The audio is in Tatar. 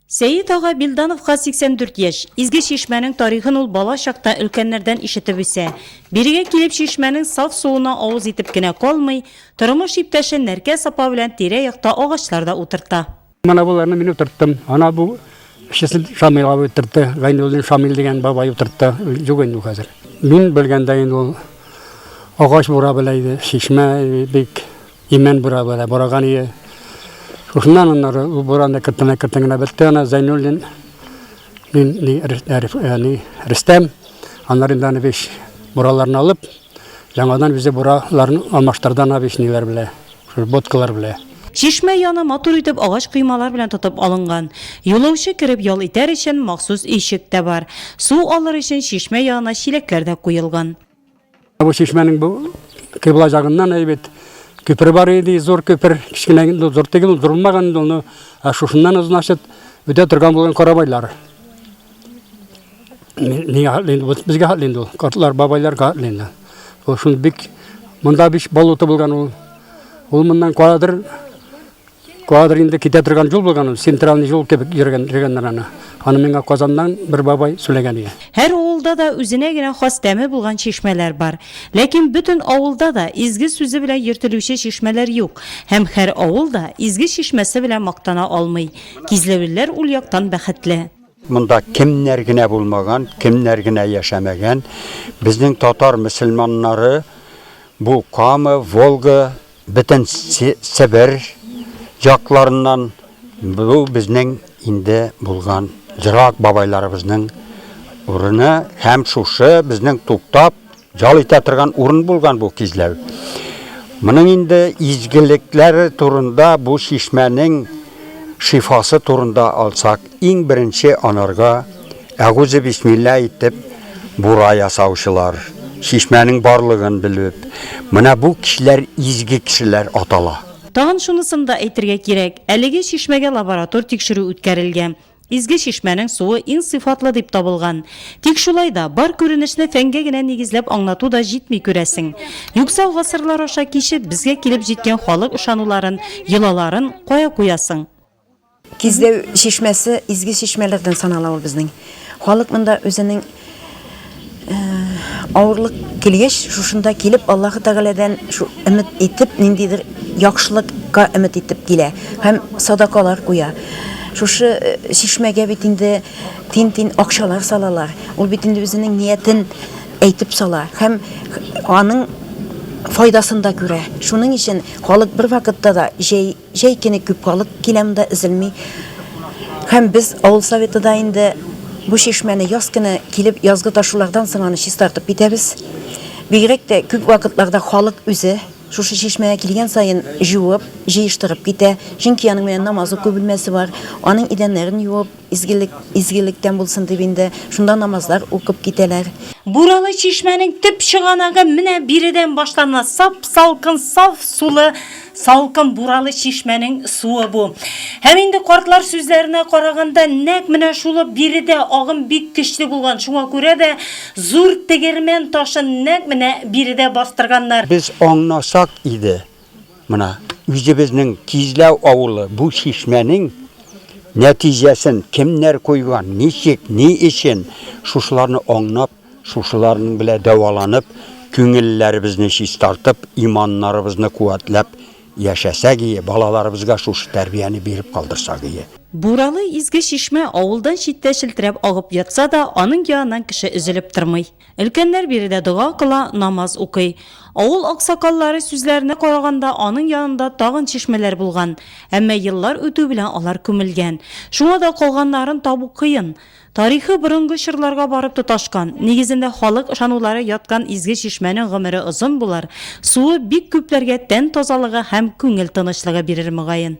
Сәет ага Билдановка 84 яшь. Изге чишмәнең тарихын ул бала чакта өлкәннәрдән ишетеп үсә. Бирегә килеп чишмәнең саф суына авыз итеп кенә калмый, тормыш иптәше Нәркә сапа белән тирә-якта агачлар да утырта. Менә боларны мин утырттым. Ана бу эшчесен Шамил абый утыртты. Гайнуллин Шамил дигән бабай утыртты. Юк инде хәзер. Мин белгәндә инде ул агач бура беләйде, чишмә бик Имән бура бара бораган ие. Шушыннан аннары ул буран да кертенә кертенгенә бетте ана Зайнуллин. Мин ни Рәстәм, Рәстәм, Анар Имданович бураларын алып, яңадан үзе бураларын алмаштырды ана вишнилар белән, шул боткалар белән. Чишмә яны матур итеп агач коймалар белән тотып алынган. Юлаучы кереп ял итәр өчен махсус өйчек тә бар. Су алыр өчен чишмә янына чиләкләр дә куелган. Бу чишмәнең бу кыйбла ягыннан әйбәт күпер бар иде, зур күпер, кечкенә инде зур түгел, ул зурмаган инде ул. Ә шушыннан значит үтә торган булган карабайлар. Нигә хатлы инде бу безгә хатлы инде ул. Картлар, бабайлар хатлы инде. Ул шул бик монда биш болото булган ул. Ул моннан кадәр Куадр инде китә торган юл булган ул, центральный юл кебек йөргән йөргәннәр аны. Аны миңа Казаннан бер бабай сөйләгән иде. Һәр авылда да үзенә генә хас тәме булган чишмәләр бар. Ләкин бөтен авылда да изге сүзе белән йөртелүче чишмәләр юк. Һәм һәр авыл да изге чишмәсе белән мактана алмый. Кизләвелләр ул яктан бәхетле. Монда кемнәр генә булмаган, кемнәр генә яшәмәгән. Безнең татар мөселманнары бу Кама, Волга Бөтен Себер якларыннан бу безнең инде булган ерак бабайларыбызның урыны һәм шушы безнең туктап ял итә торган урын булган бу кизләү. Моның инде изгелекләре турында бу чишмәнең шифасы турында алсак, Иң беренче анарга әгузебисмилла әйтеп бура ясаучылар, чишмәнең барлыгын белеп, менә бу кешеләр изге кешеләр атала. Тагын шунысын да әйтергә кирәк, әлеге чишмәгә лаборатор тикшерү үткәрелгән. Изге чишмәнең суы иң сыйфатлы дип табылган. Тик шулай да, бар күренешне фәнгә генә нигезләп аңлату да җитми, күрәсең. Юкса гасырлар аша кичеп, безгә килеп җиткән халык ышануларын, йолаларын кая куясың? Кизләү чишмәсе изге чишмәләрдән санала ул безнең. Халык монда үзенең авырлык килгәч, шушында килеп, Аллаһы Тәгаләдән шу өмет итеп, ниндидер яхшылыкка өмет итеп килә һәм садакалар куя. Шушы чишмәгә бит инде тин-тин акчалар салалар. Ул бит инде үзенең ниятен әйтеп сала һәм аның файдасын да күрә. Шуның өчен халык бервакытта да җәй Җәй көне күп халык килә монда, өзелми. Һәм без авыл советы да инде бу чишмәне яз көне килеп, язгы ташулардан соң аны чистартып китәбез. Бигрәк тә күп вакытларда халык үзе шушы чишмәгә килгән саен җуып, җыештырып китә. Чөнки аның менә намаз уку бүлмәсе бар, аның идәннәрен юып, Изгелек изгелектән булсын дип инде шунда намазлар укып китәләр. Буралы чишмәнең төп чыганагы менә биредән башлана. Сап-салкын, саф сулы, салкын Буралы чишмәнең суы бу. Һәм инде картлар сүзләренә караганда, нәкъ менә шулы биредә агым бик көчле булган, шуңа күрә дә зур тегермән ташын нәкъ менә биредә бастырганнар. Без аңласак иде, Мына үзебезнең Кизләү авылы бу чишмәнең нәтиҗәсен кемнәр куйган, ничек, ни өчен, шушыларны аңнап, шушыларның белә дәваланып, күңелләребезне чистартып, иманнарыбызны куәтләп яшәсәк ие, балаларыбызга шушы тәрбияне биреп калдырсак ие. Буралы изге чишмә авылдан читтә челтерәп агып ятса да, аның яныннан кеше өзелеп тормый. Өлкәннәр биредә дога кыла, намаз укый. Авыл аксакаллары сүзләренә караганда, аның янында тагын чишмәләр булган, әмма еллар үтү белән алар күмелгән. Шуңа да калганнарын табу кыен. Тарихы борынгы чорларга барып тоташкан, нигезендә халык ышанулары яткан изге чишмәнең гомере озын булыр, суы бик күпләргә тән тазалыгы һәм күңел тынычлыгы бирер, мөгаен.